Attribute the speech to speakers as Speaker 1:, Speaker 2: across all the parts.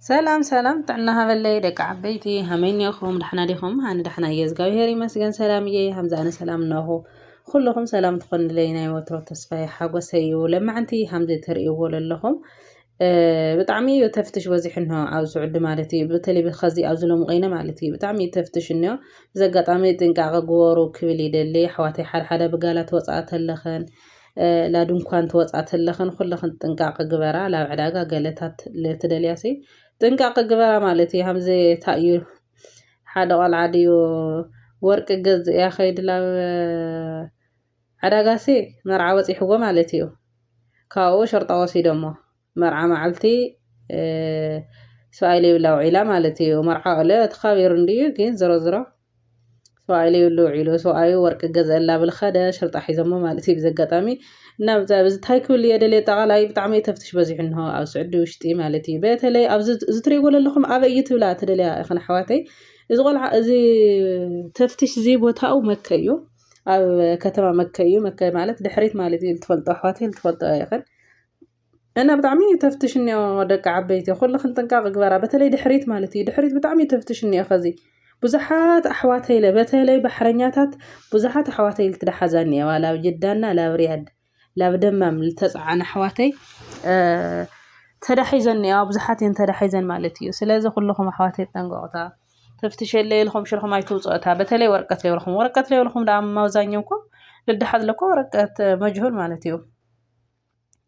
Speaker 1: ሰላም ሰላም ጥዕና ሃበለይ ደቂ ዓበይቲ ሃመይ ኔኹም ዳሕና ዲኹም ኣነ ዳሕና እየ እግዚኣብሄር ይመስገን ሰላም እየ ሃምዚ ኣነ ሰላም እነኹ ኩልኹም ሰላም ትኾንለይ ናይ ወትሮ ተስፋይ ሓጎሰይ እዩ ለማዕንቲ ሃምዚ ትርእይዎ ዘለኹም ብጣዕሚ እዩ ተፍትሽ በዚሑ እንሆ ኣብ ስዑዲ ማለት እዩ በተለይ ከዚ ኣብዚ ሎም ቆይነ ማለት እዩ ብጣዕሚ እዩ ተፍትሽ እንዮ ብዚ ኣጋጣሚ ጥንቃቐ ግበሩ ክብል ይደሊ ኣሕዋተይ ሓደሓደ ብጋላት ወፃእ ተለኸን ላድንኳን ትወጻ ተለኽን ኩለኽን ጥንቃቀ ግበራ ላብ ዕዳጋ ገለታት ለትደልያሲ ጥንቃቀ ግበራ ማለት እዩ ሃምዘ ታእዩ ሓደ ቆልዓ ድዩ ወርቂ ገዝእ እያ ከይድ ላብ ዕዳጋሲ መርዓ ወጺሕዎ ማለት እዩ ካብኡ ሸርጣ ወሲደሞ መርዓ ማዕልቲ ሰብኣይ ለይብላ ውዒላ ማለት እዩ መርዓ ኦለ ተኻቢሩ እንድዩ ግን ዝሮ ዝሮ ሰብኣይ ለይብሉ ውዒሉ ሰብኣዩ ወርቂ ገዝአላ ብል ኸደ ሽርጣ ሒዞሞ ማለት እዩ ብዘጋጣሚ እና ብዚ ታይ ክብል እየ ደልየ ጠቓላይ ብጣዕሚ ተፍትሽ በዚሑ እንሆ ኣብ ስዑዲ ውሽጢ ማለት እዩ በተለይ ኣብዚ እዚ ትሪእዎ ዘለኹም ኣበይ እዩ ትብላ ትደልያ ኢኽን ኣሕዋተይ እዚ ቆልዓ እዚ ተፍትሽ እዚ ቦታኡ መከ እዩ ኣብ ከተማ መከ እዩ መከ ማለት ድሕሪት ማለት እዩ ልትፈልጦ ኣሕዋተይ ልትፈልጦ ኢኽን እና ብጣዕሚ ተፍትሽ እኒኦ ደቂ ዓበይቲ ኩልኽን ጥንቃቅ ግበራ በተለይ ድሕሪት ማለት እዩ ድሕሪት ብጣዕሚ ተፍትሽ እኒኦ ከዚ ብዙሓት ኣሕዋተይ ኢለ በተለይ ባሕረኛታት ብዙሓት ኣሕዋተይ ኢልት ድሓዛ እኒኤዋ ላብ ጅዳና ላብ ሪያድ ላብ ደማም ዝተፀዓና ኣሕዋተይ ተዳሒዘን እኒኤዋ ብዙሓት እየን ተዳሒዘን ማለት እዩ ስለዚ ኩልኹም ኣሕዋተይ ጠንቀቁታ ተፍትሸለ ኢልኹም ሽርኹም ኣይትውፅኦታ በተለይ ወረቀት ለይብልኹም ወረቀት ለይብልኹም ደኣ ማብዛኛውኩም ልድሓዝ ለኮ ወረቀት መጅሁል ማለት እዩ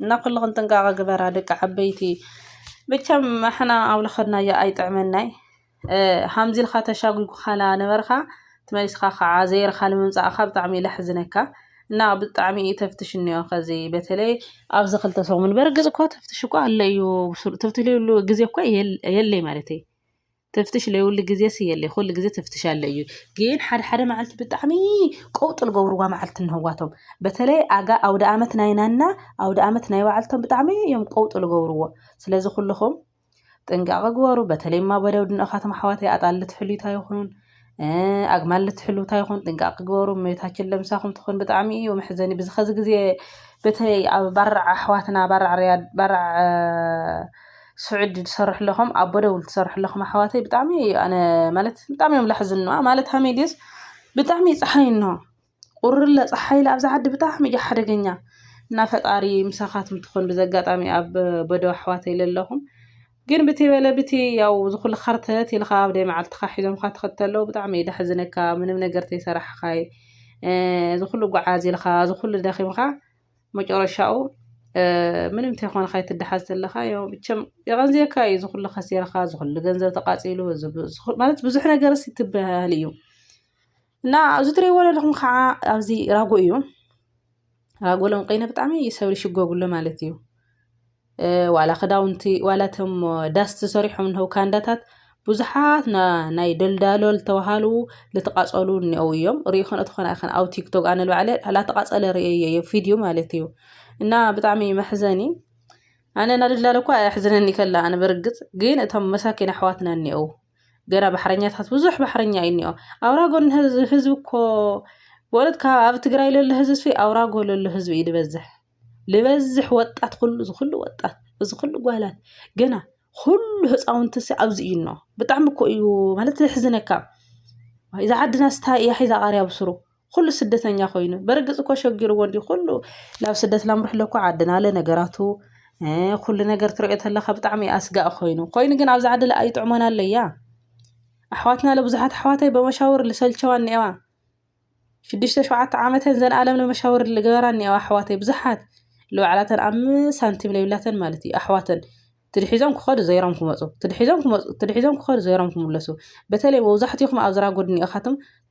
Speaker 1: እና ኩልኽን ጥንቃቐ ግበራ ደቂ ዓበይቲ መቸም ኣሕና ኣብ ለኸድናዮ ኣይጥዕመናይ ሃምዚ ኢልካ ተሻጒጉኻና ነበርካ ትመሊስካ ከዓ ዘይርኻ ንምምጻእኻ ብጣዕሚ እዩ ለሕዝነካ እና ብጣዕሚ እዩ ተፍትሽ እኒኦ ከዚ በተለይ ኣብዚ ክልተ ሰሙን በርግጽ እኳ ተፍትሽ እኳ ኣሎ እዩ ትብትልሉ ግዜ እኳ የለይ ማለት እዩ ተፍትሽ ለይውሊ ግዜስ የለይ ኩሉ ግዜ ተፍትሽ ኣለ እዩ ግን ሓደ ሓደ መዓልቲ ብጣዕሚ ቀውጢ ልገብርዋ መዓልቲ ንህዋቶም በተለይ ኣጋ ኣውደ ኣመት ናይናና ኣውደ ኣመት ናይ ባዓልቶም ብጣዕሚ እዮም ቀውጢ ልገብርዎ ስለዚ ኩልኹም ጥንቃቐ ግበሩ በተለይ ማ በደው ድንኦኻቶም ኣሕዋተይ ኣጣል ልትሕሉታ ይኹን ኣግማል ልትሕሉ ታይ ይኾን ጥንቃቂ ግበሩ እመቤታችን ለምሳኹም ትኹን ብጣዕሚ እዩ መሕዘኒ ብዚ ኸዚ ግዜ በተይ ኣብ ባራዕ ኣሕዋትና ባራዕ ርያድ ባራዕ ስዑድ ትሰርሑ ኣለኹም ኣብ ቦደውል ትሰርሑ ኣለኹም ኣሕዋተይ ብጣዕሚ ኣነ ማለት ብጣዕሚ እዮም ላሕዝኑና ማለት ሃመይ ድዩስ ብጣዕሚ ፀሓይ እኖሆ ቁርለ ጸሓይለ ኣብዛ ዓዲ ብጣዕሚ እዩ ሓደገኛ እና ፈጣሪ ምሳኻትም ትኾን ብዘጋጣሚ ኣብ በዶ ኣሕዋተይ ለለኹም ግን ብቲ በለ ብቲ ያው ዝኹሉ ኸርተት ኢልኻ ኣብ ደይ መዓልትኻ ሒዞምካ ትኸተለው ብጣዕሚ እዩ ዳሕዝነካ ምንም ነገር ተይሰራሕኻይ ዝኹሉ ጓዓዝ ኢልኻ ዝኹሉ ደኺምካ መጨረሻኡ ምንም ተይኮንኻይ ትደሓዝ ተለኻ ያው ብቸም የቐንዝየካ እዩ ዝኹሉ ኸሲርካ ዝኹሉ ገንዘብ ተቃጺሉ ማለት ብዙሕ ነገርስ ትበሃል እዩ እና ኣብዚ ትሪእዎ ዘለኹም ከዓ ኣብዚ ራጎ እዩ ራጎ ለንቀይነ ብጣዕሚ እዩ ሰብ ዝሽጎግሎ ማለት እዩ ዋላ ክዳውንቲ ዋላ እቶም ዳስ ዝሰሪሖም እንሀው ካንዳታት ብዙሓት ናይ ደልዳሎ ዝተባሃሉ ዝተቃፀሉ እኒአው እዮም ሪኦ ከነ ተኾነ ኣይኸን ኣብ ቲክቶክ ኣነ ባዕለ ላተቃፀለ ርእየ እየ ቪድዮ ማለት እዩ እና ብጣዕሚ መሕዘኒ ኣነ እናደልዳለ እኳ ኣሕዝነኒ ከላ ኣነ በርግፅ ግን እቶም መሳኪን ኣሕዋትና እኒአው ገና ባሕረኛታት ብዙሕ ባሕረኛ እዩ እኒኦ ኣውራ ጎኒ ህዝቢ እኮ በእውነት ካብ ኣብ ትግራይ ለሎ ህዝቢ ኣውራ ጎ ለሎ ህዝቢ እዩ ዝበዝሕ ልበዝሕ ወጣት ኩሉ እዚ ኩሉ ወጣት እዚ ኩሉ ጓላት ገና ኩሉ ህፃውንቲ ሲ ኣብዚ እዩ እኖ ብጣዕሚ እኮ እዩ ማለት ዘሕዝነካ እዛ ዓድና ስታይ እያ ሒዛ ቃርያ ብስሩ ኹሉ ስደተኛ ኮይኑ በርግጽ እኮ ሸጊርዎ እንዲ ኹሉ ናብ ስደት ላምርሕሎ እኮ ዓድና ኣለ ነገራቱ ኩሉ ነገር ትሪኦ ተለካ ብጣዕሚ ኣስጋእ ኮይኑ ኮይኑ ግን ኣብዚ ዓዲ ለኣ ይጥዕሞና ኣለያ ኣሕዋትና ለብዙሓት ኣሕዋተይ በመሻውር ልሰልቸዋ እኒኤዋ ሽዱሽተ ሸውዓተ ዓመተን ዘንኣለም ንመሻውር ልገበራ እኒኤዋ ኣሕዋተይ ብዙሓት ልባዕላተን ኣብ ሳንቲም ለብላተን ማለት እዩ ኣሕዋተን ትድሒዞም ክኸዱ ዘይሮም ክመፁ ትድሒዞም ክመፁ ትድሒዞም ክኸዱ ዘይሮም ክምለሱ በተለይ መብዛሕትኹም ኣብ ዝራ ጎድኒ ኢኻትም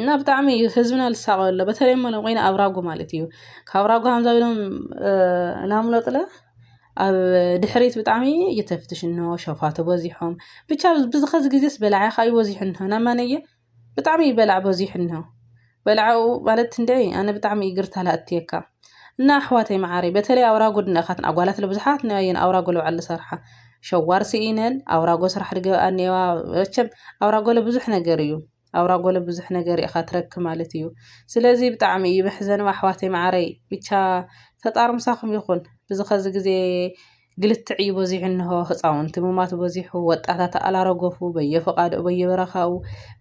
Speaker 1: እና ብጣዕሚ እዩ ህዝብና ልሳቀ ኣሎ በተለይ ሞ ኮይነ ኣብ ራጉ ማለት እዩ ካብ ራጉ ሃምዛ ኢሎም ናምለጥለ ኣብ ድሕሪት ብጣዕሚ እየተፍትሽ እንሆ ሸፋቱ በዚሖም ብቻ ብዝኸዚ ግዜስ በላዕኻ እዩ በዚሑ እንሆ ናብ ማነየ ብጣዕሚ እዩ በላዕ በዚሑ እንሆ በላዕኡ ማለት እንድዒ ኣነ ብጣዕሚ ይግርታ ላእትየካ እና ኣሕዋተይ መዓረይ በተለይ ኣውራ ጉድና ካትን ኣጓላት ለብዙሓት ንኣየን ኣውራ ጎለብዓል ዝሰርሓ ሸዋር ስኢነን ኣውራ ጎ ስራሕ ድገብኣ እኔዋ መቸም ኣውራ ጎለ ብዙሕ ነገር እዩ ኣውራ ጎለ ብዙሕ ነገር ኢኻ ትረክ ማለት እዩ ስለዚ ብጣዕሚ እዩ መሕዘንም ኣሕዋተይ መዓረይ ብቻ ፈጣር ምሳኹም ይኹን ብዚ ኸዚ ግዜ ግልትዕ እዩ በዚሑ እንሆ ህፃውንቲ ምማት በዚሑ ወጣታት ኣላረገፉ በየፈቃዱ በየበረኻኡ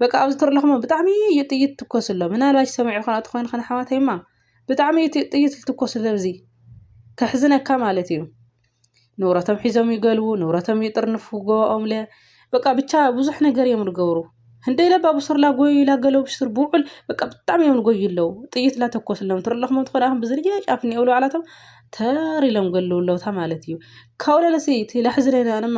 Speaker 1: በቃ ኣብዚ ትርለኹሞ ብጣዕሚ እዩ ጥይት ትኮስሎ ምናልባሽ ሰሚዑ ከነእቲ ኮይኑ ከነሓዋተይማ ብጣዕሚ እዩ እቲ ጥይት ዝትኮስሎም እዚ ከሕዝነካ ማለት እዩ ንብረቶም ሒዞም ይገልቡ ንብረቶም ይጥርንፉ ጎባኦምለ በቃ ብቻ ብዙሕ ነገር እዮም ዝገብሩ ህንደይ ለባ ብሱርላ ጎዩ ኢላ ገለው ብሱር ብውዕል በቃ ብጣዕሚ እዮም ዝጎዩ ኣለው ጥይት ላተኮስሎም ትርለኹም ትኾነ ኣኹም ብዝርያ ጫፍ እኒኦ ብለባዕላቶም ተር ኢሎም ገለውለውታ ማለት እዩ ካብኡ ለለሲ እቲ ለሕዝለና ድማ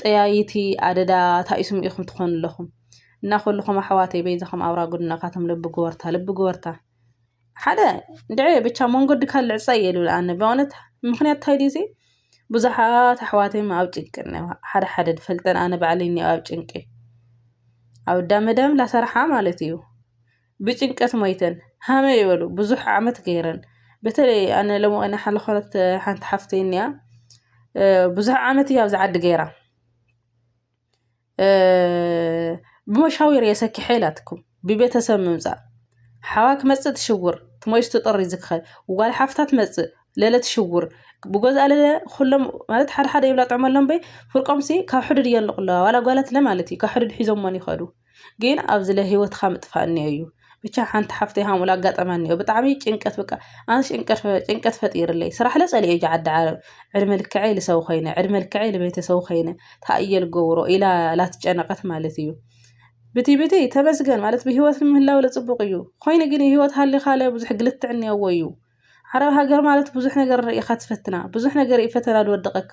Speaker 1: ጠያይቲ ኣደዳ ታይ ስሙ ኢኩም ትኮኑ ኣለኩም እና ኩሉኩም ኣሕዋተይ በይዛኩም ኣውራ ጉድና ካቶም ልቢ ጉበርታ ልቢ ጉበርታ ሓደ ድዐ ብቻ መንገዲ ካል ዕፀ እየ ልብል ኣነ በእውነት ምክንያት ታይ ድዩ ዘይ ብዙሓት ኣሕዋተይ ኣብ ጭንቂ እኒዋ ሓደ ሓደ ድፈልጠን ኣነ ባዕለይ እኒኦ ኣብ ጭንቂ ኣብ ዳመዳም ላሰርሓ ማለት እዩ ብጭንቀት ሞይተን ሃመ ይበሉ ብዙሕ ዓመት ገይረን በተለይ ኣነ ሎሚ ቀን ሓለኾረት ሓንቲ ሓፍተይ እኒኣ ብዙሕ ዓመት እያ ኣብዚ ዓዲ ገይራ ብመሻዊር እየ ሰኪሐ ኢላትኩም ብቤተሰብ ምምፃእ ሓዋ ክመፅእ ትሽውር ትሞይስ ትጥሪ ዝክኸል ጓል ሓፍታ ትመፅእ ለለ ትሽውር ብገዝኣ ለለ ኩሎም ማለት ሓደ ሓደ ይብላ ጥዕመሎም በይ ፍርቆምሲ ካብ ሕዱድ እየን ኣለዋ ዋላ ጓላት ለ ማለት እዩ ካብ ሕዱድ ሒዞሞን ይኸዱ ግን ኣብዚ ለ ሂወትካ ምጥፋእ እኒኦ እዩ ብቻ ሓንቲ ሓፍተይ ሃምኡ ኣጋጠማ እኒኦ ብጣዕሚ ጭንቀት በቃ ኣነ ጭንቀት ፈጢርለይ ስራሕ ለ ፀሊኦ እየ ዓዲ ዓረብ ዕድመ ልክዐይ ልሰው ኮይነ ዕድመ ልክዐይ ልቤተሰቡ ኮይነ ታይ እየ ልገብሮ ኢላ ላትጨነቀት ማለት እዩ ብቲ ብቲ ተመስገን ማለት ብሂወት ምህላው ለፅቡቅ እዩ ኮይኑ ግን ሂወት ሃሊካ ለ ብዙሕ ግልትዕ እኒኦዎ እዩ ዓረብ ሃገር ማለት ብዙሕ ነገር ኢካ ትፈትና ብዙሕ ነገር እዩ ፈተና ዝወድቀካ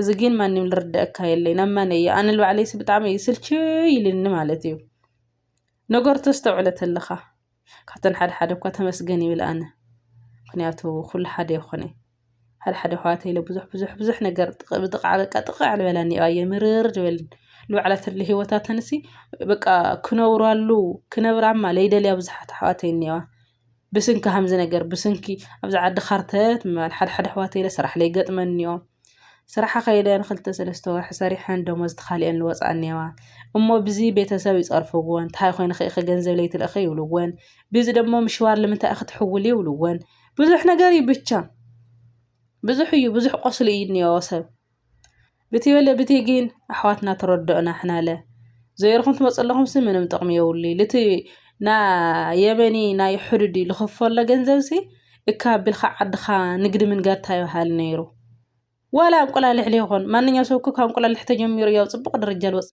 Speaker 1: እዚ ግን ማንም ልርደኣካ የለይ ናብ መን እየ ኣነ ንባዕለይሲ ብጣዕሚ እዩ ስልችይ ኢሉኒ ማለት እዩ ነገሩ ተስተውዕለ ተለኻ ካብተን ሓደ ሓደ እኳ ተመስገን ይብል ኣነ ምክንያቱ ኩሉ ሓደ ይኾነ ሓደ ሓደ ኣሕዋተይ ኢለ ብዙሕ ብዙሕ ብዙሕ ነገር ብጥቕዓ በቃ ጥቕዕ ልበለኒ እዩ ኣየ ምርር ዝበለኒ ንባዕላ ትርሊ ሂወታተንሲ በቃ ክነብራሉ ክነብራማ ለይደልያ ብዙሓት ኣሕዋተይ እኒአዋ ብስንኪ ከምዚ ነገር ብስንኪ ኣብዚ ዓዲ ከርተት ምባል ሓደ ሓደ ኣሕዋት ኢለ ስራሕለይ ይገጥመኒኦ ስራሓ ከይደ ንክልተ ሰለስተ ወርሒ ሰሪሐን ደሞዝ ተኻሊኤን ዝወፅኣ እኒአዋ እሞ ብዚ ቤተሰብ ይፀርፍዎን እንታይ ኮይንኺ ኢኺ ገንዘብ ለይትልእኺ ይብልዎን ብዚ ደሞ ምሽዋር ልምንታይ ኢኺ ትሕውሊ ይብልዎን ብዙሕ ነገር እዩ ብቻ ብዙሕ እዩ ብዙሕ ቆስሊ እዩ እኒኦ ሰብ ብቲበለ ብቲ ጊን ኣሕዋትና ተረዶኦና ሕናለ ዘየርኹም ትመጸለኹምሲ ምንም ጥቕሚ የብሉ ልቲ ና የመኒ ናይ ሕዱዲ ልኽፈሎ ገንዘብሲ እካ ቢልካ ዓድኻ ንግዲ ምንጋድ ታይበሃል ነይሩ ዋላ እንቁላልሕ ለይኾን ማንኛው ሰብኩ ካብ እንቁላልሕ ተጀሚሩ ያው ጽቡቕ ደረጃ ልወጽ